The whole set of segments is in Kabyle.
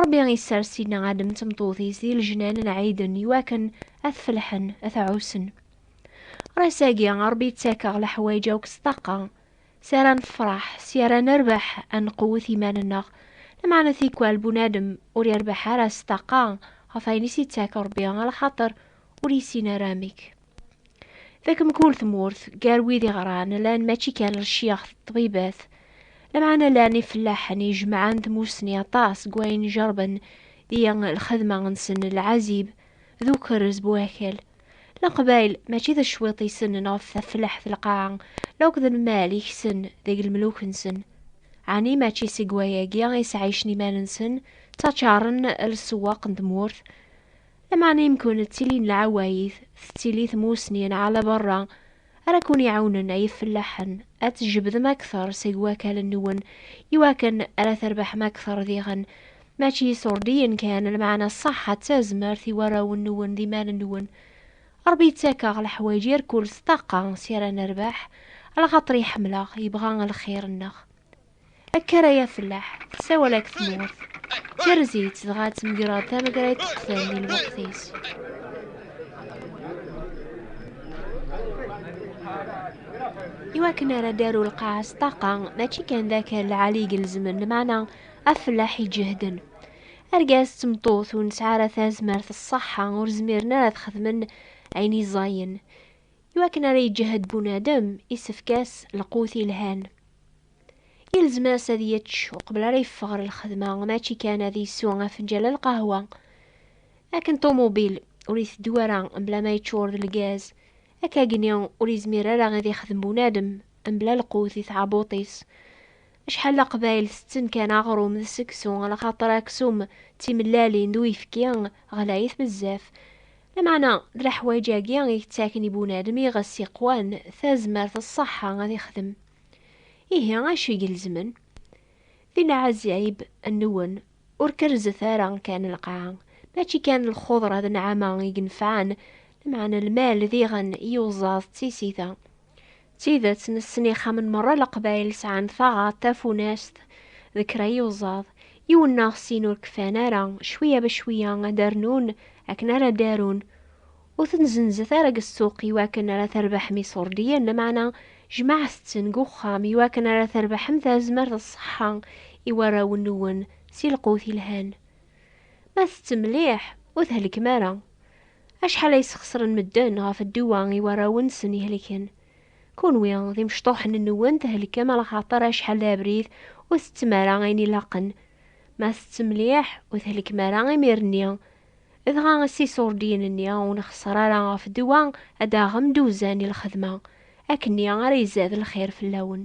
Ṛebbi isers Sidna Adem d tmeṭṭut-is di lejnan n Ɛiden i wakken ad t-felḥen, ad t-ɛussen. Ṛṛas-agi, Ṛebbi ittak-aɣ leḥwayeǧ akk s ṭṭaqa, s ara nefṛeḥ, s ara nerbeḥ, ad nqewwet iman-nneɣ. Lameɛna tikwal bunadem ur iṛbeḥ ara s ṭṭaqa ɣef ayen i s-ittak Ṛebbi, ala xaṭer ur yessin ara amek. Deg mkul tmurt, gar wid iɣran, llan mačči kan lcyax d ṭṭbibat, lameɛna llan ifellaḥen ijemɛen tmussni aṭas n wayen ijerben di lxedma-nsen n lɛazib d ukerrez bu akal. Leqbayel mačči d cwiṭ i ssnen ɣef tafellaḥt n lqaɛa la akked lmal i kksen deg lemluk-nsen. Ɛni mačči seg wayagi i sɛicen iman-nsen, ttaččaren lsewwaq n tmurt, Lameɛna imkun ttilin lɛawayit, tettili tmussni n ɛla berra ara kun-iɛawnen ay ifellaḥen ad tjebdem akter seg wakal-nwen iwakken ara terbeḥem akter diɣen mačči iṣurdiyen kan, lameɛna ṣṣeḥḥa d tazmert i warraw-nwen d imal-nwen. Rebbi yettak-aɣ leḥwayeǧ irkul s ṭṭaqa si ara nerbeḥ, alaxaṭer iḥemmel-aɣ, yebɣa lxir-nneɣ. Akka ara yafellaḥ, sawal-ak tmurt, tirzi-tt dɣa ttemgreḍ tamegra yeṭṭeqten di lweqt-is. Iwakken ara d-aru lqaɛa s ṭaqa, mačči kan d akal lɛali i gelezmen lmeɛna afellaḥ iǧehden. Argaz d tmeṭṭut ur nesɛi ara tazmert ṣṣeḥḥa ur zmiren ara ad xedmen ayen i ẓẓayen. Iwakken ara iǧehed bunadem, isefk-as lqut ilhan. Yelzem-as ad yečč uqbel ara yeffeɣ ɣer lxedma, mačči kan ad yessu afenǧal n lqahwa. Akken ṭumubil ur iteddu ara mebla ma yeččur d lgaz, akkagni ur yezmir ara ad ixdem bunadem mebla lqut di tɛabuṭ-is. Acḥal n Leqbayel tetten kan aɣrum d seksu, laxaṭer aksum d timellalin d uyefki ɣlayit bezzaf. Lameɛna, d leḥwayeǧ-agi i yettaken i bunadem iɣes yeqwan tazmert d ṣṣeḥḥa ad ixdem. Ihi, acu i gelezmen? Di leɛzayeb nwen, ur kerrzet ara kan lqaɛa, mačči kan lxuḍra d nneɛma i inefɛen, lameɛna lmal diɣen i uẓaẓ d tisita. D tidet, nessen ixxamen merra n Leqbayel sɛan taɣaḍt, tafunast, d kra yuẓaḍ. Yiwen neɣ sin ur kfan ara, cwiya ba cwiya ad d-rnun akken ara d-arun. Ur ten-zenzet ara deg ssuq iwakken ara terbeḥem iṣurdiyen, lameɛna jemɛet-ten deg uxxam iwakken ara terbeḥem tazmert d ṣṣeḥḥa i warraw-nwen si lqut yelhan. Ma tettem mliḥ, ur thelkem ara. Acḥal ay sxeṣren medden ɣef dduwa i warraw-nsen ihelken. Kenwi, d imecṭuḥen-nwen thelkem alaxaṭer acḥal d abrid ur tettem ara ayen ilaqen. Ma tettem mliḥ, ur thelkem ara imir-nni. Dɣa ass iṣurdiyen-nni ur nxeṣṣer ara ɣef dduwa ad d-taɣem-d uzan i lxedma. Akkenni ara izad lxir fell-awen.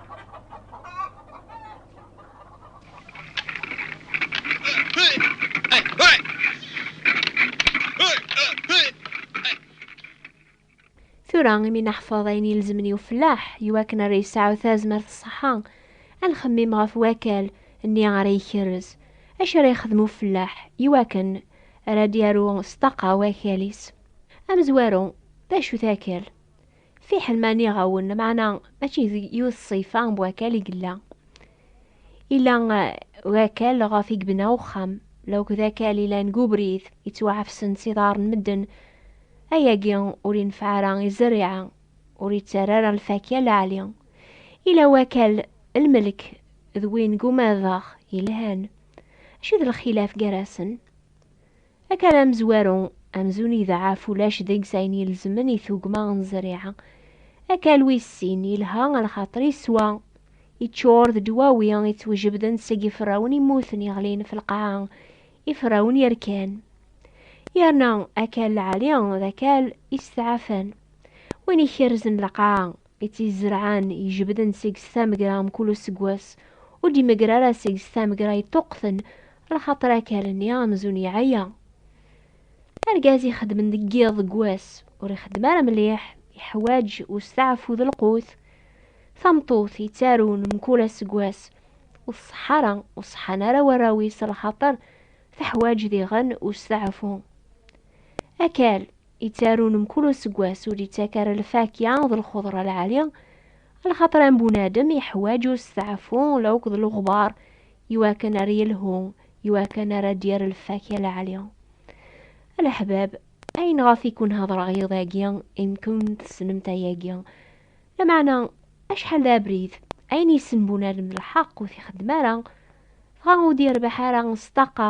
tura imi naḥfeḍ ayen ilezmen i ufellaḥ iwakken ara yesɛu tazmert ṣṣeḥḥa ad nxemmim ɣef wakal nni ara ikerrez acu ara yexdem ufellaḥ iwakken ara d-yaru s ṭṭaqa wakal-is amezwaru d acu-t akal Fiḥel ma nniɣ-awen, maɛna mačči d yiwet ṣṣifa n wakal i yella. Ila wakal ɣef i yebna uxxam, la akked akal ilan deg ubrid, yettwaɛefsen s iḍar n medden. Ayagi ur inefeɛ ara i zzerriɛa, ur ittarra ara lfakya leɛli. Ila wakal lmelk d win deg umadeɣ yelhan. Acu i d lxilaf gar-asen? Akal amezwaru, amzun idaɛɛef ulac deg-s ayen ilezmen i tugma n zzriɛa. Akal wis sin, ilha lxaṭer iswa, iččur d ddwawi ittwjebden seg iferrawen immuten iɣlin f lqaɛa, iferrawen yerkan. Yerna akal lɛali d akal isteɛɛafen, win ikerrzen lqaɛa, I tt-izerɛen, ijebden seg-s tamegra mkul useggas, ur d-imegger ara seg-s tamegra yeṭṭuqten, lxaṭer akal-nni amzun iɛya. Argaz ixeddmen deg yiḍ deg wass, ur ixeddem ara mliḥ, iḥwaǧ usteɛfu d lqut. Tameṭṭut yettarun mkul aseggas, ur tṣeḥḥa ara, ur ṣeḥḥan ara warraw-is lxaṭer teḥwaǧ diɣen usteɛfu. Akal, Ittarun mkul useggas ur ittak ara lfakya d lxeḍra lɛali, lxaṭer am bunadem yeḥwaǧ usteɛfu lawk d lexbar iwakken ar yelhu, iwakken ara d-yerr lfakya lɛali. A leḥbab, ayen ɣef i ken-hedreɣ iḍ-agi, imkun tessnemt ayagi. Lameɛna, acḥal d abrid, ayen yessen bunadem d lḥeq ur t-ixeddem ara, dɣa ur d-yerbeḥ ara s ṭṭaqa,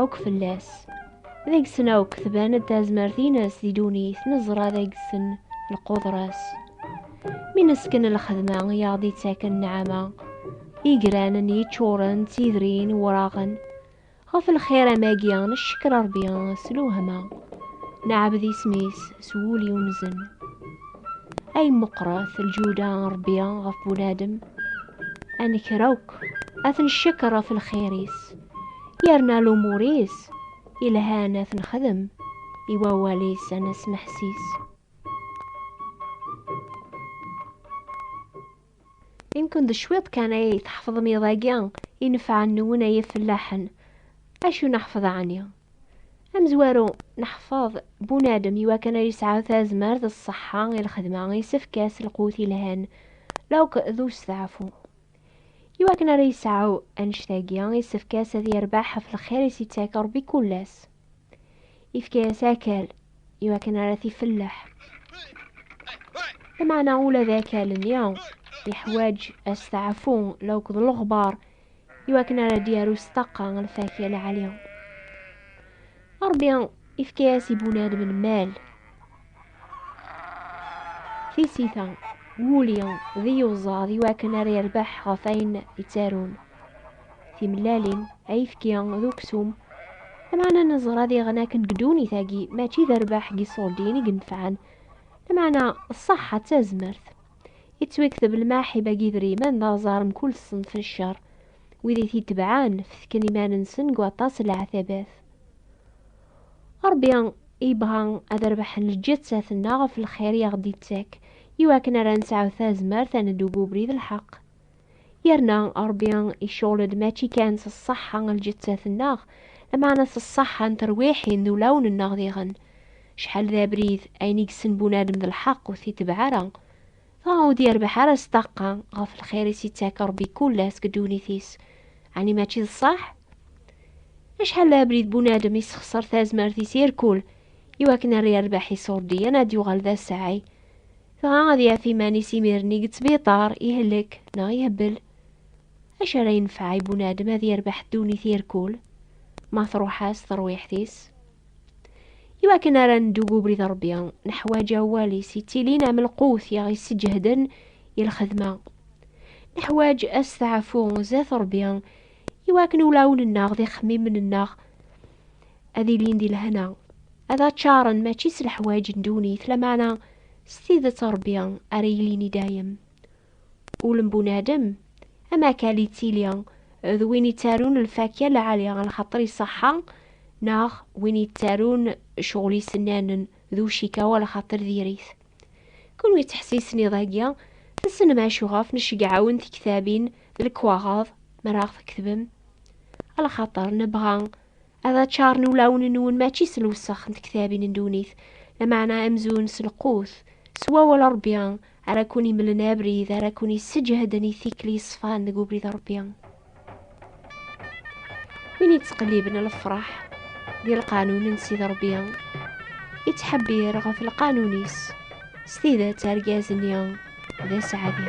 akk fell-as. Deg-sen akk tban-d tazmert-ines di dunit, neẓra deg-sen lqudra-s. Mi nesken lxedma i aɣ-d-ittaken nneɛma, igranen yeččuren d tidrin wraɣen, ɣef lxir amagi neccekker Rebbi s lewhama, neɛbed isem-is s wul yunzen. Ay meqqret lǧuda n Rebbi ɣef bunadem, ad nekker akk ad ten-neccekker ɣef lxir-is. Yerna lumur-is ilhan ad t-nexdem i wawal-is ad nesmeḥsis. Imken d cwiṭ kan ay tḥefḍem iḍ-agi inefɛen-nwen ay ifellaḥen. Acu neḥfeḍ ɛni? Amezwaru, neḥfeḍ, bunadem iwakken ad yesɛu tazmert, ṣṣeḥḥa i lxedma, isefk-as lqut ilhan, lewqt d usteɛfu. Iwakken ara yesɛu annect-agi, isefk-as ad yerbeḥ ɣef lxir i s-ittak Rebbi kul ass. Ifka-as akal, iwakken ara t-ifelleḥ. Lameɛna ula d akal-nni yeḥwaǧ asteɛfu la akked leɣbar, iwakken ara d-yaru s ṭṭaqa lfakya lɛali. Rebbi Ifka-as i Bunan menmal. Tisita, wuli d iyuẓaḍ i wakken ara yerbeḥ ɣef ayen yettarun. Timellalin, ayefki d uksum, lameɛna neẓra diɣen akken deg ddunit-agi mačči d rrbeḥ n yiṣuṛdiyen i yenefɛen, lameɛna ṣṣeḥḥa d tazmert. Yettwekteb lmaḥib agi idrimen d aẓar mkul ṣṣenf n cceṛ. Wid i t-itebɛen fetken iman-nsen deg waṭas n leɛtabat. Ṛebbi yebɣa ad rebḥen lǧettat-nneɣ ɣef lxir i aɣ-d-ittak, i wakken ara nesɛu tazmert ad neddu deg ubrid n lḥeqq. Yerna Ṛebbi icɣel-d mačči kan s ṣṣeḥḥa n lǧettat-nneɣ, lameɛna s ṣṣeḥḥa n terwiḥin d ulawen-nneɣ diɣen. Acḥal d abrid, ayen i yessen bunadem d lḥeqq ur t-itebbeɛ ara. Dɣa ur d-yerbeḥ ara s ṭṭaqqa ɣef lxir i s-ittak Ṛebbi kul ass deg ddunit-is, ɛni mačči d ṣṣeḥ? Acḥal d abrid bunadem issexṣer tazmert-is irkul iwakken ar yerbeḥ iṣurdiyen ad yuɣal d assaɛi, dɣa ad yaf iman-is imir-nni deg ttbiṭar, ihlek neɣ ihbel. Acu ara yenfeɛ i bunadem ad yerbeḥ ddunit irkul ma truḥ-as terwiḥt-is? Iwakken ara neddu deg ubrid Ṛebbi, neḥwaǧ awal-is yettilin am lqut i aɣ-yesseǧehden i lxedma. Neḥwaǧ asteɛfu zdat Ṛebbi, iwakken ulawen-nneɣ d ixemmimen-nneɣ ad ilin di lehna, ad aččaren mačči s leḥwaǧ n ddunit, lameɛna s tidet Ṛebbi ara yilin i dayem. Ul n bunadem, am akal yettili d win yettarun lfakya lɛali, lxaṭer iṣeḥḥa, neɣ win yettarun ccɣel isennanen d ucikawa lxaṭer diri-t. Kunwi ttḥessisen iḍ-agi, tessnem acu ɣef necceggɛawen tektabin d lekwaɣeḍ mi ara aɣ-tketbem? Lxaṭer nebɣa ad ččaren ulawen-nwen mačči s lewsex n tektabin n ddunit, lameɛna amzun s lqut, s wawal Ṛebbi ara kun-imlen abrid, ara kun-isseǧhden i tikli yeṣfan deg ubrid Ṛebbi. Win yettqelliben lefṛaḥ di lqanun n Sidi Ṛebbi, yettḥebbir ɣef lqanun-is, s tidet argaz-nni d aseɛdi.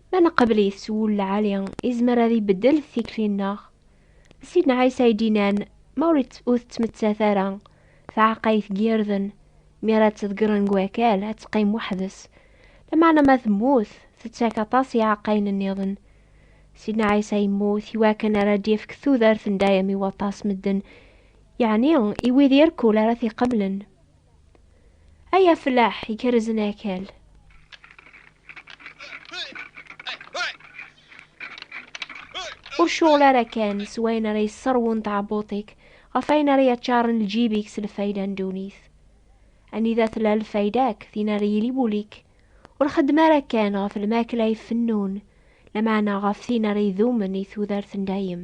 Ma neqbel-it s wul lɛali, izmer ad ibeddel tikli-nneɣ. D Sidna Ɛisa i d-inan, Ma ur tettmettat ara tɛeqqayt n yirden, mi ara tt-ḍeggren deg wakal, ad teqqim weḥd-s. Lameɛna ma temmut, tettak aṭas i iɛeqqayen nniḍen. Sidna Ɛisa yemmut iwakken ara d-yefk tudert n dayem i waṭas medden, yeɛni i wid irkul ara t-iqeblen. Ay aflaḥ ikerrzen akal! ur cɣel ara kan s wayen ara yesserwun tɛebbuṭ-ik ɣef ayen ara yaččaren lǧib-ik s lfayda n ddunit. Anida tella lfayda-k, tin ara yili wul-ik. Ur xeddem ara kan ɣef lmakla ifennun, lameɛna ɣef tin ara idumen i tudert n dayem.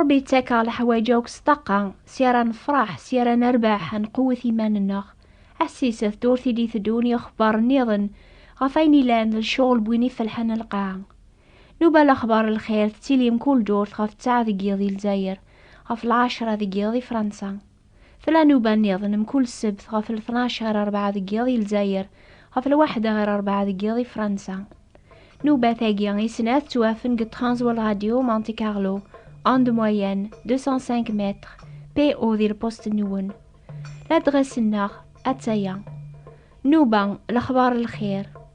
Ṛebbi yettakeɣ leḥwayeǧ akk s ṭṭaqa, si ara nefṛeḥ, si ara nerbeḥ, ad nqewwet iman-nneɣ. Ḥessis-t d ur t-id-iteddun yixebbaṛ nniḍen ɣef ayen ilan d lecɣel n win ifelḥen n lqaɛa. Nuba lexbaṛ n lxir tettili mkul ddurt ɣef ttɛa deg yiḍ i Lezzayer, ɣef lɛecṛa deg yiḍ i Fṛansa. Tlanuba nniḍen mkul ssebt ɣef lṭnac ɣer rebɛa deg yiḍ i Lezzayer, ɣef lwaḥda ɣer rebɛa deg yiḍ i Fransa. Nubat-agi i snat ttwafen deg Transworld Radio Monte Carlo, onde moyenne 205 mètres, PO di lpusṭ-nwen. Ladɣes-nneɣ, atta-ya. Nnuba, lexbar n lxir.